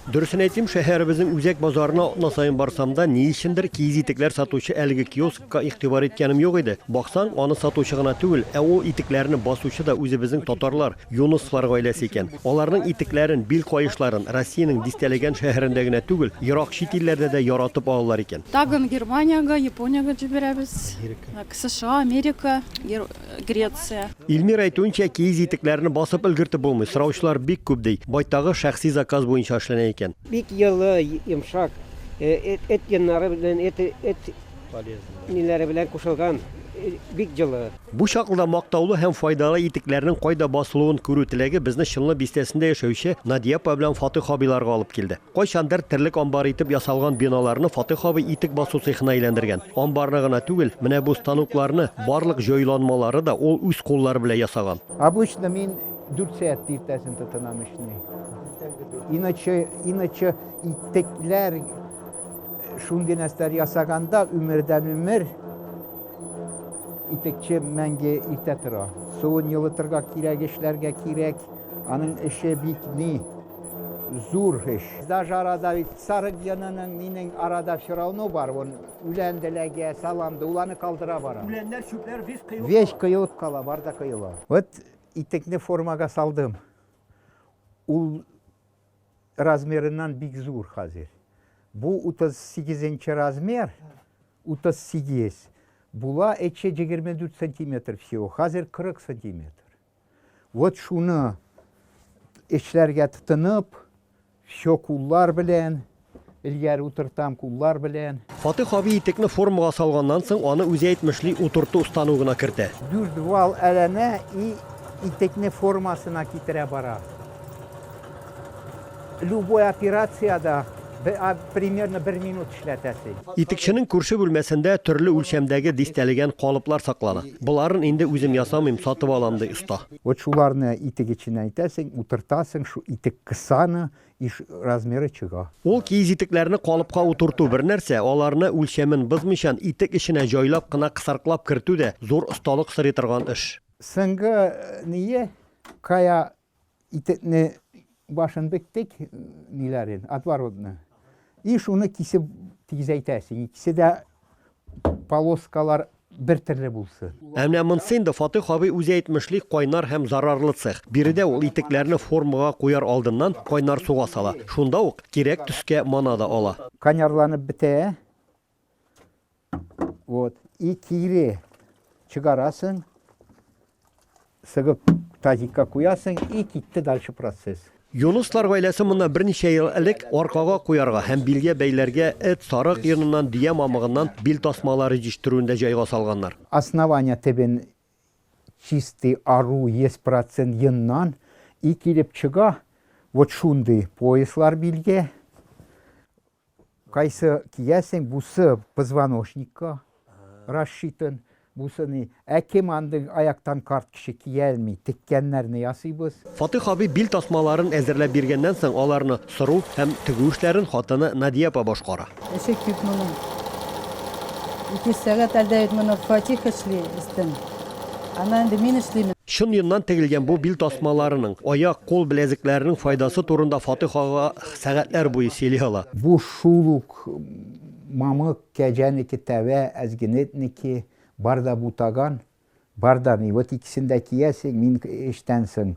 Дөресен әйтим, шәһәребезнең үзәк базарына атна саен барсам да, ни өчендер, киез итекләр сатучы әлеге киоскка игътибар иткәнем юк иде. Баксаң, аны сатучы гына түгел, ә ул итекләрне басучы да үзебезнең татарлар, Юнысовлар гаиләсе икән. Аларның итекләрен, бил каешларын Россиянең дистәләгән шәһәрендә генә түгел, ерак чит илләрдә дә яратып алалар икән. Тагын Германиягә, Япониягә җибәрәбез, США, Америка. Греция. Ильмир әйтүенчә, киез итекләрне басып өлгертеп булмый, сораучылар бик күп, ди. Байтагы шәхси заказ буенча эшләнә икән. Бик йылы, йомшак, эт йоннары белән, эт ниләре белән кушылган, бик җылы. Бу чаклыда мактаулы һәм файдалы итекләрнең кайда басылуын күрү теләге безне Чынлы бистәсендә яшәүче Надиапа белән Фатыйх абыйларга алып килде. Кайчандыр терлек амбары итеп ясалган биналарны Фатыйх абый итек басу цехына әйләндергән. Амбарны гына түгел, менә бу станокларны, барлык җайланмалары да ул үз куллары белән ясаган. Обычно мин дүрт сәгатьтә иртәсен тотынам эшне. Иначе, иначе итекләр шундый нәрсәләр ясаганда өмердән өмер итекче мәңге иртә тора. Суын йылытырга кирәк, эшләргә кирәк. Аның эше бик ни. Зур эш. Даже арада бит сарык йонының минең арада все равно бар, он үлән деләге, салам да, ул аны калдыра бара. Үләннәр, чүпләр весь кыелып кала. Весь кыелып кала, бар да кыела. Вот итекне формага салдым. Ул размерыннан бик зур хәзер. Бу 38 нче размер, 38. Була эче 24 сантиметр всего, хәзер 40 сантиметр. Вот шуны эшләргә тотынып, все куллар белән, элгәр утыртам куллар белән. Фатих абый итекне формага салганнан соң, аны үзе әйтмешли утырту стану гына кертә. Дүрт вал әләнә и итекне формасына китерә бара. Любой операциядә примерно бер минут эшләтәсе. Итекченең күрше бүлмәсендә төрле үлчәмдәге дистәлегән калыплар саклана. Боларын инде үзем ясамыйм, сатып алам, ди оста. Вот шуларны итек эченә итәсең, утыртасың, шул итек кысаны и размеры чыга. Ул киез итекләрне калыпка утырту бер нәрсә, аларны үлчәмен бозмыйчан итек эченә җайлап кына кысарклап кертү дә зур осталык сорый торган эш. Сынга ние кая итекне башын биттек, ниләрен, отворотны. И шуны кисеп тигезәйтәсең. Икесе дә полоскалар бер төрле булсын. Ә менә монсы инде Фатих абый үзе әйтмешли кайнар һәм зарарлы цех. Биредә ул итекләрне формага куяр алдыннан кайнар суга сала. Шунда ук кирәк төскә мана да ала. Канярланып бетә, Вот. И кире чыгарасын, сыгып тазикка куясын, и китте дальше процесс. Юнуслар гаиләсе монда берничә ел элек аркага куярга һәм билгә бәйләргә эт, сарык йоныннан, дөя мамыгыннан бил тасмалары җитештерүендә җайга салганнар. Основание тибен чистый ару 100% йоннан и килеп чыга вот шундый пояслар билгә. Кайсы киясең, бусы позвоночникка расчитан, бусы ни. Ә кем андый аяктан карт кеше кия алмый, теккәннәрне ясыйбыз. Фатыйх абый бил тасмаларын әзерләп биргәннән соң аларны сыру һәм тегү эшләрен хатыны Надия апа башкара. Эше күп моның. Ике сәгать әлдә бит моны Фатих эшли, өстен. Аннан инде мин эшлим. Чын йоннан тегелгән бу бил тасмаларының, аяк, кул беләзекләренең файдасы турында Фатыйх ага Сәгатьләр буе сөйли ала. Бу шул ук мамык, кәҗәнеке, тәвә, әзгенетнеке, бар да бутаган, бар да ни, вот икесен дә киясең, мин эштән соң,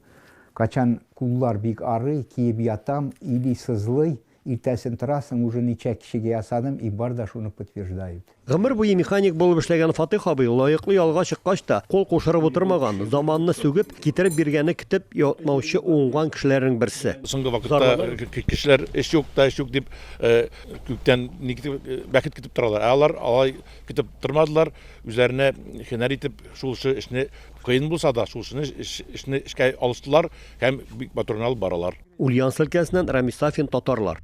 качан куллар бик арый, киеп ятам, или сызлый, иртәсен торасың, уже ничә кешегә ясадым, и бар да шуны подтверждают. Гомер буе механик булып эшләгән Фатыйх абый лаеклы ялга чыккач та, кул кушырып утырмаган, заманны сүгеп, китереп биргәнне көтеп ятмаучы уңган кешеләрнең берсе. Соңгы вакытта кешеләр эш юк та, эш юк дип, күктән бәхет көтеп торалар. Ә алар алай көтеп тормадылар, үзләренә һөнәр итеп, шулчы эшне, кыен булса да, шулчыны эшне эшкә алыштылар һәм бик матур гына алып баралар. Ульяновск өлкәсеннән Рамис Сафин, Татарлар.